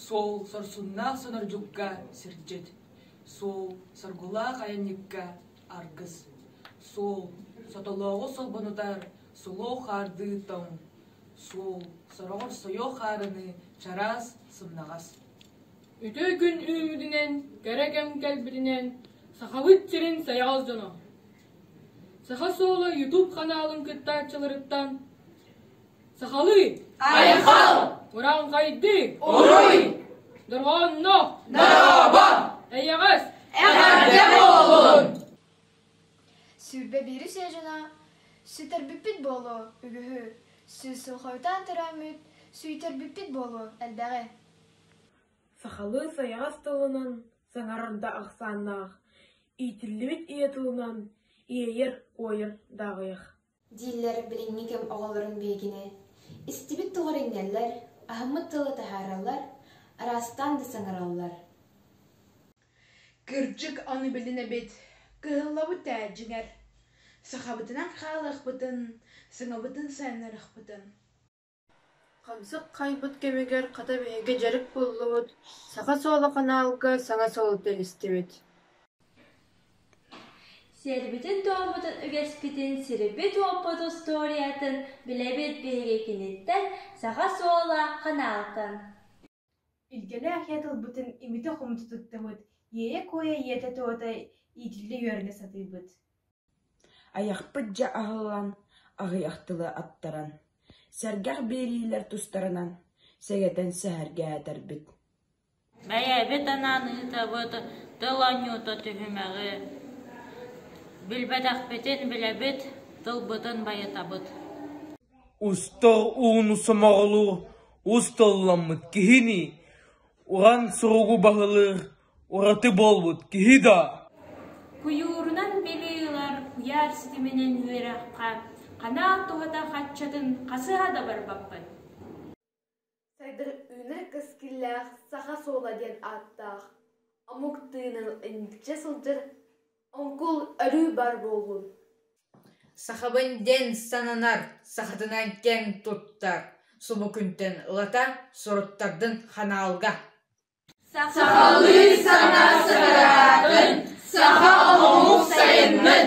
Суол сорсуннаах сонордьукка сирдьит, суол соргулаах айанньыкка аргыс, суол сотолооҕу солбонутар сулуох хаардыы тоҥ, суол сороҕор сойуох хаарыны чараас сымнаҕас. үтүө күн үүммүтүнэн, кэрэ кэм кэлбитинэн Сахабыт сирин сайаҕас дьоно! Саха суола YouTube ханаалын кыттааччыларыттан Сахалыы! Айхал! Ураҥхайдык! Уруй! Дорҕоонно! Дорообо! Эйэҕэс! Эҕэрдэ буолун! Сүүрбэ биир үсэ дьоно сүтэрбиппит буолуо үгүһү, сүүс сыл хойутаан төрөөммүт сүйтэрбиппит буолуо элбэҕи. Сахалыы сайаҕас тылынан саҥарар да ахсааннаах, иитиллибит ийэ тылынан иэйэр, куойар дааҕыйар дииллэр билиҥҥи кэм оҕолорун биһигини. Истибит тыллар иҥэллэр, аһыммыт тылы таһаараллар, араастаан да саҥараллар. Кырдьык аны билин эбит, кыһаллабыт ээ, дьиҥэр. Сахабытынан хаалыахпытын, саҥабытын сайыннарыахпытын Хамсык хаайбыт кэмигэр хата биһиги дьарык буллубут, саха суола ханаалга саҥа солута истибит Сиэрбитин-туоммутун үгэспитин, сирбит-уоппут устуоруйатын билэбит биһиги киниттэн, саха суола ханаалтан Илгэлээх ийэ тылбытын имитэ-хомута туттабыт, иэйэ-куойа ийэтэ-туота иитиллэ үөрэнэ сатыыбыт Айахпыт дьэ аһыллан, аҕыйах тылы аттаран, сэргэх биэриилэр тустарынан сэгэтэн сэһэргэһэтэрбит Бэйэбит анаан ыытабыт тыл оонньуута түһүмэҕи Билбэтэхпитин билэбит, тылбытын байытабыт Устал ууну сомоҕолуу Ус толламмыт киһини уһан суругу баһылыыр ураты буолбут киһи даа Куйуурунан били ылар куйаар ситиминэн үөрэххэ канаал туһата хаччатын хасыһа да барбаппын Сайдар Үүнэр Кэскиллээх Саха суола диэн ааттаах омук тыынын инниччэ сылдьар Оҥкул өрүү баар буоллун Сахабын диэн сананар сахатынан кэм туттар субу күнтэн ылата суруттардын ханаалга Сахалыы саҥа саҥараатын саха омук сайыннын